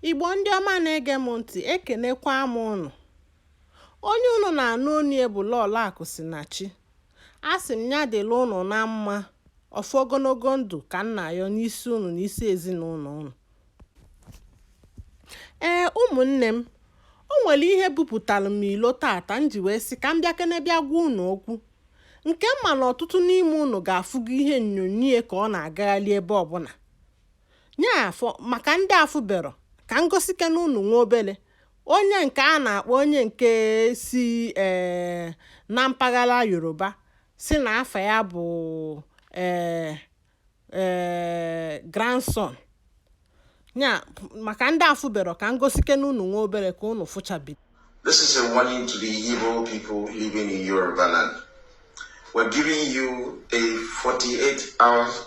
Igbo ndị ọma na-ege m ntị ekenekwa m ụnụ. Onye ụnụ na-anụ onu ya bụ Lọlọ Akụsinachi. Asị m ya dịrị ụnụ na mma, ọfọ ogologo ndụ ka m na-ayọ n'isi ụnụ na isi ezinụlọ ụnụ. Ee, ụmụnne m, o nwere ihe bupụtara m ilo tata m ji wee sị ka m bịakene bịa gwa ụnụ okwu. Nke m ma na ọtụtụ n'ime ụnụ ga-afụgo ihe onyonyo ka ọ na-agagharị ebe ọbụla. Nya bụ maka ndị afụberọ ka m gosikene ụnụ nwa obele onye nke a na-akpọ onye nke si ee eh, na mpaghara Yoruba sị na afa ya bụ ee eh, ee eh, Grandson ya maka ndị afụberọ ka m gosikene ụnụ nwa obele ka ụnụ fụchabi This is a warning to the Igbo people living in Yoruba land. We're giving you a 48 hours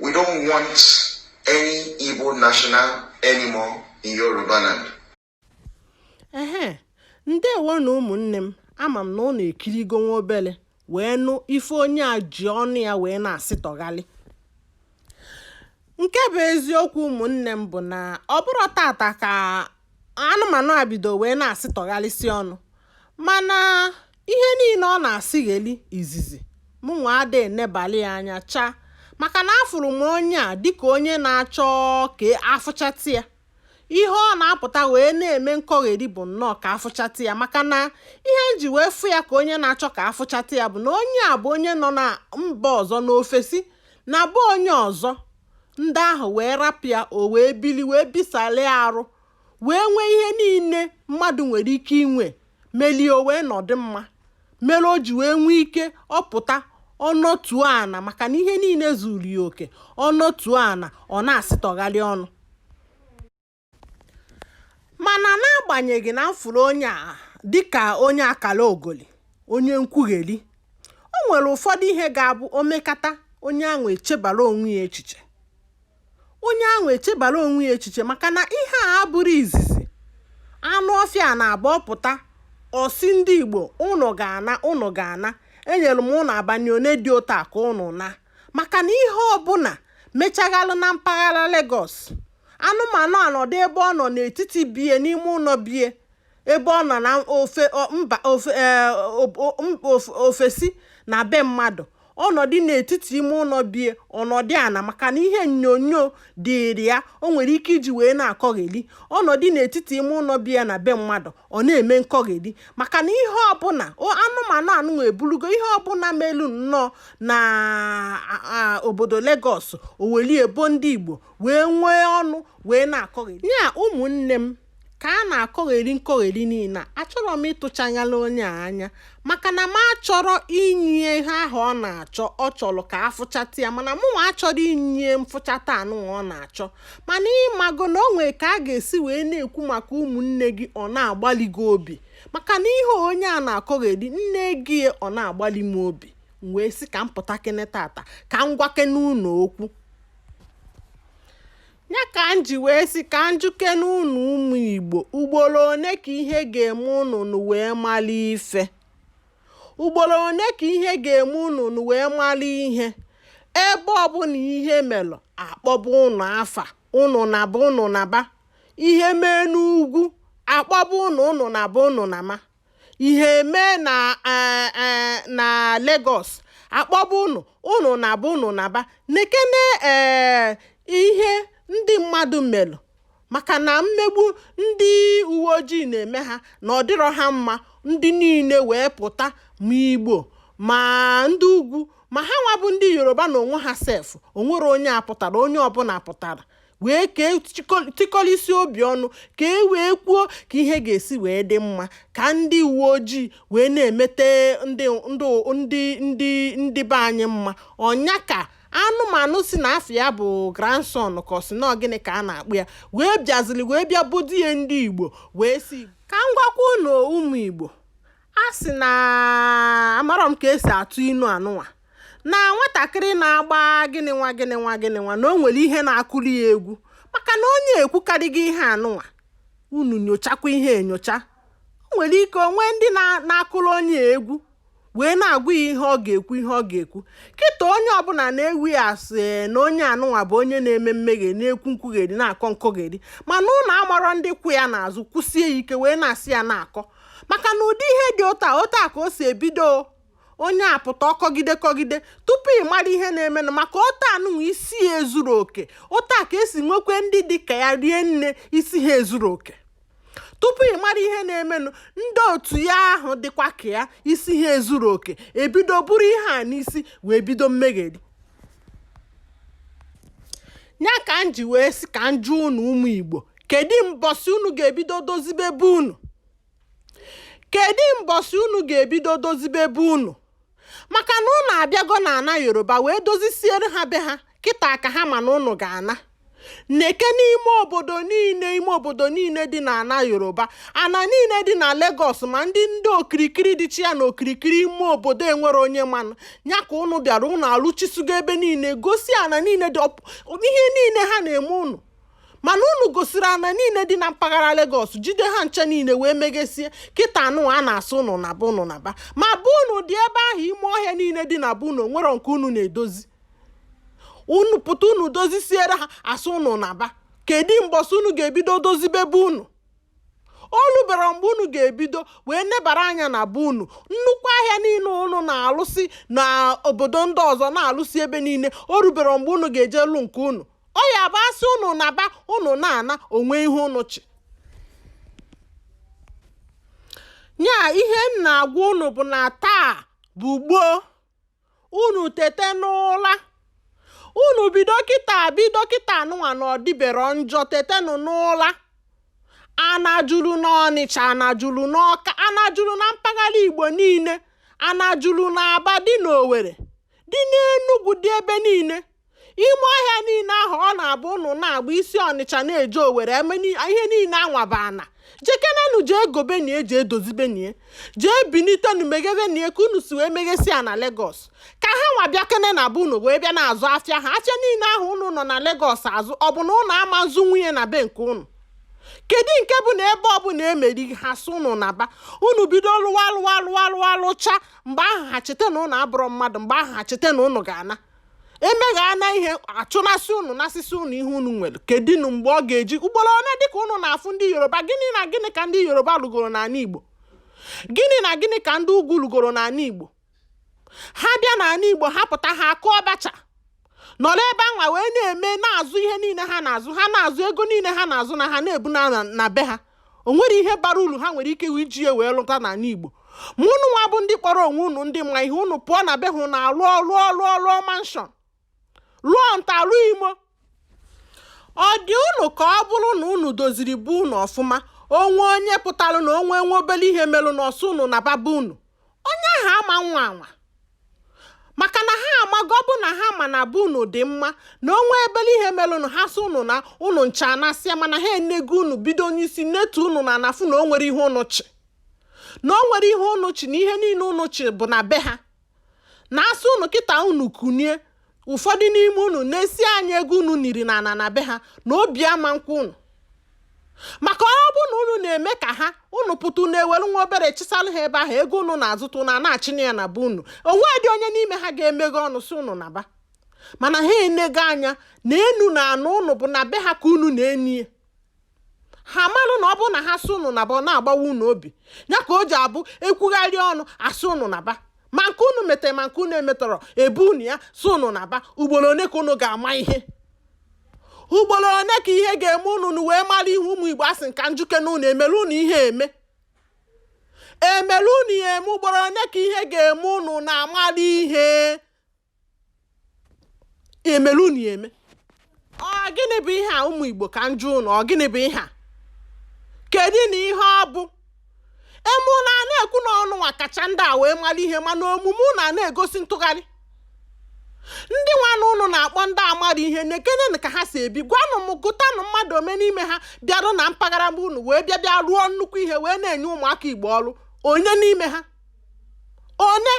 We don't want any Igbo national anymore in Yoruba land. Ehe, ndewonụ ụmụnne m ama m na ụnụ ekirigo nwa obele wee nụ ife onye a ji ọnụ ya wee na-asịtọghalị nke bụ eziokwu ụmụnne m bụ na ọ bụrọ tata ka anụmanụ a bido wee na-asịtọghalịsị ọnụ mana Ihe niile ọ na-asịgheli izizi, mụnwa ada enebali ya anya chaa maka na afụrụ m onye a dịka onye na-achọ ka a fụchata ya. Ihe ọ na-apụta wee na-eme nkọgheri bụ nnọọ ka a fụchata ya maka na ihe m ji wee fụ ya ka onye na-achọ ka a fụchata ya bụ na onye a bụ onye nọ na mba ọzọ n'ofesi na be onye ọzọ, ndị ahụ wee rapụ ya o wee bili wee bisalịa arụ. wee nwee ihe niile mmadụ nwere ike inwe melie o wee nọdụ mma mere o ji wee nwee ike ọ pụta ọ nọtuo ana maka na ihe niile zuru ya oke ọ nọtuo ana ọ na-asịtọgharị ọnụ mana n'agbanyeghị na m fụrụ onye a dịka onye akala ogoli onye nkwugheri o nwere ụfọdụ ihe ga-abụ o mekata onye ahụ echebara onwe ya echiche onye ahụ echebara onwe ya echiche maka na ihe a abụrọ izizi anụ ọfịa na-abụ ọ pụta ọ sị ndị Igbo ụnụ ga-ana ụnụ ga-ana enyere m ụnụ abanị one dị otu a ka ụnụ naa maka na ihe ọbụla mechaghalụ na mpaghara Lagos anụmanụ anọdụ ebe ọ nọ n'etiti be ya n'ime ụnọ be ya ebe ọ nọ na ofesi na be mmadụ ọ nọdụ n'etiti ime ụlọ be ya ọ nọdụ ana maka na ihe onyonyo dịịrị ya o nwere ike iji wee na-akọgheli ọ nọdụ n'etiti ime ụlọ be ya na be mmadụ ọ na-eme nkọgheli maka na ihe ọbụla anụmanụ anụ eburugo ihe ọbụla melu nnọọ na obodo Lagos o weli ya bo ndị Igbo wee nwee ọnụ wee na-akọgheli ya ụmụnne m ka a na-akọgheri nkọgheri niile a achọrọ m ịtụchanyala onye a anya maka na m achọrọ inye ya ihe ahụ ọ na-achọ ọ chọrọ ka afụchata ya mana mụnwa achọrọ inye ya mfụchata anụnwa ọ na-achọ mana ị mago na o nwere ka a ga-esi wee na-ekwu maka ụmụnne gị ọ na-agbali gị obi maka na ihe onye a na-akọgheri nne gị ọ na-agbali m obi m wee sị ka m pụtakene tata ka m gwakene unu okwu Ya ka m ji wee sị ka m jụkene unu ụmụ Igbo ugboro one ka ihe ga-eme unu unu wee mali ife ugboro one ka ihe ga-eme unu unu wee mali ihe ebe ọbụla ihe melụ a kpọba unu afa unu naba unu naba ihe mee n'ugwu a kpọba unu unu naba unu naba ihe mee na eh, eh, na Lagos a kpọba unu unu naba unu naba nekene ee eh, ihe ndị mmadụ melụ maka na mmegbu ndị uwe ojii na-eme ha na ọ dịrọ ha mma ndị niile wee pụta ma Igbo ma ndị ugwu ma ha nwa bụ ndị Yoruba na onwe ha sef o nwerọ onye apụtarọ onye ọbụla pụtara wee ka e tikọlisi obi ọnụ ka e wee kwuo ka ihe ga-esi wee dị mma ka ndị uwe ojii wee na-emete ndị be anyị mma ọ ya ka anụmanụ sị na afa ya bụ Grandson ka ọ sị na ọ gịnị ka a na-akpọ ya wee bịaziri wee bịa bodo ya ndị Igbo wee sị ka m gwakwa unu ụmụ Igbo a sị na amarọ m ka e si atụ inu anụnwa na nwatakịrị na-agba gịnị nwa gịnị nwa gịnị nwa na o nwere ihe na-akụli ya egwu maka na onye ekwukarịghị ihe anụnwa unu nyochakwa ihe enyocha o nwere ike o nwee ndị na-akụrụ onye a egwu wee na-agwa ya ihe ọ ga-ekwu ihe ọ ga-ekwu kịta onye ọbụla na-ewe ya asị eh, na onye anụnwa bụ onye na-eme mmehie na-ekwu nkwugheri na-akọ nkọgheri mana unu amarọ ndị kwụ ya n'azụ kwụsie ya ike wee na-asị ya na-akọ maka na ụdị ihe dị otu a ka o si ebido onye a pụta ọ kọgide kọgide tupu ị mara ihe na-emenụ maka otu anụnwa isi ya ezuru oke otu a ka esi nwekwe ndị dị ka ya rie nne isi ha ezuru oke tupu ị mara ihe na-emenụ ndị otu ya ahụ dịkwa ka ya isi ha ezuru oke ebido buru ihe a n'isi wee bido mmegheri ya ka m ji wee sị ka m jụọ unu ụmụ igbo kedu mbọsị unu ga-ebido dozibe be unu Kedụ mbọsị unu ga-ebido dozibe be unu? Maka na unu abịago n'ana Yoruba wee dozisiere ha be ha, kịta ka ha ma na unu ga-ana. Neke n'ime obodo niile ime obodo niile dị n'ana Yoruba, ana niile dị na Legọs ma ndị ndị okirikiri dịcha ya na okirikiri ime obodo enwere onye manụ. Ya ka unu bịara unu alụchisigo ebe niile, gosi ana niile dị ọp- ihe niile ha na-eme unu. mana unu gosiri ana niile dị na mpaghara Lagos jide ha ncha niile wee meghesie kịta anụ a na-asị unu naba unu naba ma be unu dị ebe ahụ ime ọhịa niile dị na be unu o nwere nke unu na-edozi unu pụta unu dozisiere ha asị unu naba kedu mbọsị unu ga-ebido dozibe be unu o rubere mgbe unu ga-ebido wee nebara anya na be unu nnukwu ahịa niile unu na-alụsị na obodo ndị ọzọ na-alụsị ebe niile o rubere mgbe unu ga-eje lụ nke unu ọ ya bụ a sị ụnụ naba ụnụ na-ana o nwee ihe ụnụ chị nya ihe m na-agwa ụnụ bụ na taa bụ gboo unu tete n'ụla unu bido kịta bido kịta anụnwa na ọ dịbero njọ tetenụ n'ụla ana juru n'ọnịcha ana juru n'ọka ana juru na mpaghara igbo niile ana juru na aba dị n'owere dị n'enugwu dị ebe niile ime ọhịa niile ahụ ọ na-abụ ụnụ na-agba isi ọnịcha na-eje owere ihe niile anwa bụ ana jekenenu jee gobenie jee dozibenie jee binitenu meghebenie ka unu si wee meghesi ya na legos ka ha nwa bịakene na be unu wee bịa na-azụ afịa ha afịa niile ahụ unu nọ na legos azụ ọ bụ na ụnụ ama azụnwu ya na be nke ụnụ kedu nke bụ na ebe ọbụla emeri ha sị ụnụ naba unu bido lụwa lụwa lụwa lụwa lụcha mgbe ahụ ha cheta na ụnụ abụrọ mmadụ mgbe ahụ ha cheta na ụnụ ga-ana emegha na ihe achụnasị unu nasịsị unu ihe unu nwere kedinu mgbe ọ ga-eji ugboro one dịka unu na-afụ ndị yoruba gịnị na gịnị ka ndị yoruba lụgoro n'ana igbo gịnị na gịnị ka ndị ugwu lụgoro n'ana igbo ha bịa n'ana igbo ha pụta ha akụọ bacha nọrọ ebe anwa wee na-eme na-azụ ihe niile ha na-azụ ha na-azụ ego niile ha na-azụ na ha na-ebu na be ha o nwere ihe bara uru ha nwere ike iji ya wee lụta n'ana Igbo ma ụnụ nwa bụ ndị kpọrọ onwe unu ndị ma ihe unu pụọ na be ha unu alụọ lụọ lụọ lụọ manshọn lụọ nta lụọ imo ọ dị unu ka ọ bụrụ na unu doziri be unu ọfụma o nwee onye pụtara na o nwe nwe obere ihe merụnụ ọ sị unu naba be unu onye ahụ ama anwa anwa maka na ha amago ọ bụ na ha ma na be unu dị mma na onwe ebele ihe mere unu ha sị unu naa unu ncha anasịa mana ha enego unu bido n'isi netu unu n'ana fụ na o nwerọ ihe unu chị na o nwerọ ihe unu chị na ihe niile unu chị bụ na be ha na asị unu kịta unu kunie Ụfọdụ n'ime unu nesie anya ego unu niri n'ana na be ha na obi ama nkwe unu. Maka ọ bụ na unu na-eme ka ha unu pụta unu ewere nwa obere chịsalụ ha ebe ahụ ego unu na-azụta unu a na-achịna ya na be unu onwedị onye n'ime ha ga-emeghe ọnụ sị unu naba mana ha enego anya na enu na ana unu bụ na be ha ka unu na-eni ya ha marụ na ọ bụrụ na ha sị ụnụ naba ọ na-agbawa ụnụ obi ya ka o ji abụ ekwugharị ọnụ asị ụnụ naba ma nke ụnụ metere ma nke ụnụ emeterọ ebo ụnụ ya sị ụnụ naba ugboro one ka ụnụ ga-ama ihe ugboro one ka ihe ga-eme ụnụ wee mara ihe ụmụ igbo asị m ka njụkene ụnụ emere ụnụ ihe eme emere ụnụ ya eme ugboro one ka ihe ga-eme ụnụ na-amara ihe emere unu ya eme ọ gịnị bụ ihe a ụmụ Igbo ka njụ ụnụ ọ gịnị bụ ihe a kedụnụ ihe ọ bụ emenụ a na-ekwu na unu nwa kacha ndị a wee mara ihe mana omume unu a na-egosi ntụgharị ndị nwanụ ụnụ na-akpọ ndị amarọ ihe nekenenụ ka ha si ebi gwanụ m gụtanụ mmadụ one n'ime ha bịarụ na mpaghara be unu wee bịa bịa rụọ nnukwu ihe wee na-enye ụmụaka Igbo ọrụ onye n'ime ha one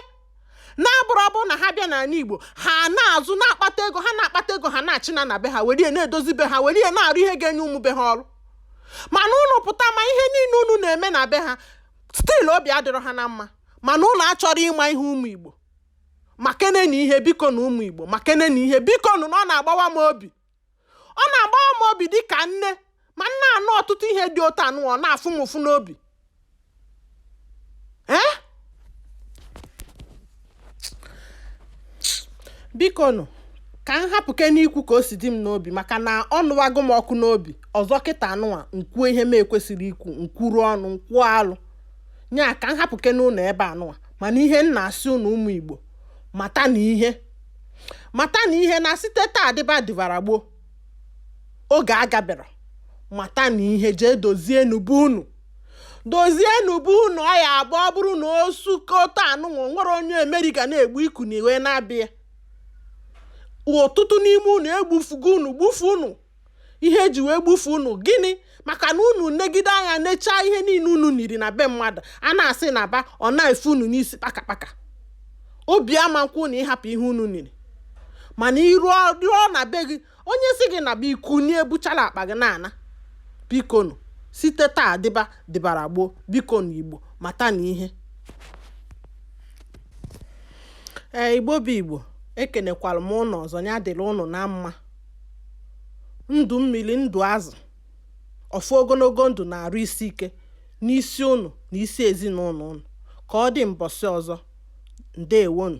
na-abụrọ ọ bụrụ na ha bịa n'ana Igbo ha na-azụ na-akpata ego ha na-akpata ego ha na-achịna na be ha were na-edozi be ha were na-arụ ihe ga-enye ụmụ be ha ọrụ mana ụnụ pụta ma ihe niile unu na-eme na be ha still obi adịrọ ha na mma mana ụnụ achọrọ ịma ihe ụmụ Igbo makenenụ ihe biko nụ ụmụ Igbo makenenụ ihe biko nụ na ọ na-agbawa m obi ọ na-agbawa m obi dị ka nne ma m na-anụ ọtụtụ ihe dị otu anụwa ọ na-afụ m ụfụ n'obi ee biko nụ ka m hapụkene ikwu ka o si dị m n'obi maka na ọ nụwago m ọkụ n'obi ọzọ kịta anụwa nkwuo ihe m ekwesịrọ ikwu nkwuru ọnụ nkwuo alụ nya ka m hapụkenenụ ebe anụwa mana ihe m na-asị ụnụ ụmụ igbo matanụ ihe matanụ ihe na site taa dịba dịbara gboo oge agaberọ matanụ ihe jee dozienụ be unu dozienụ be unu ọ ya abụ ọ bụrụ na o su ka otu anụnwa nwere onye emere ga na-egbu iku na iwe na-abịa ọtụtụ n'ime unu egbufugo unu gbufu unu ihe eji wee gbufu unu gịnị maka na unu negide anya nechaa ihe niile unu niri na be mmadụ a na-asị naba ọ na-efu unu n'isi kpakakpaka obi ama kwe unu ịhapụ ihe unu niri mana ị rụọ na be gị onye si gị naba i kunie buchala akpa gị na-ana bikonu site taa dịba dịbara gboo bikonu igbo mata na ihe ee igbo bụ igbo ekenekwara m ụnụ ọzọ ya dịrị ụnụ na mma ndụ mmiri, ndụ azụ, ọfọ ogologo ndụ na arụ isi ike n'isi ụnụ na isi ezinụlọ ụnụ. Ka ọ dị mbọsị ọzọ, ndewonụ.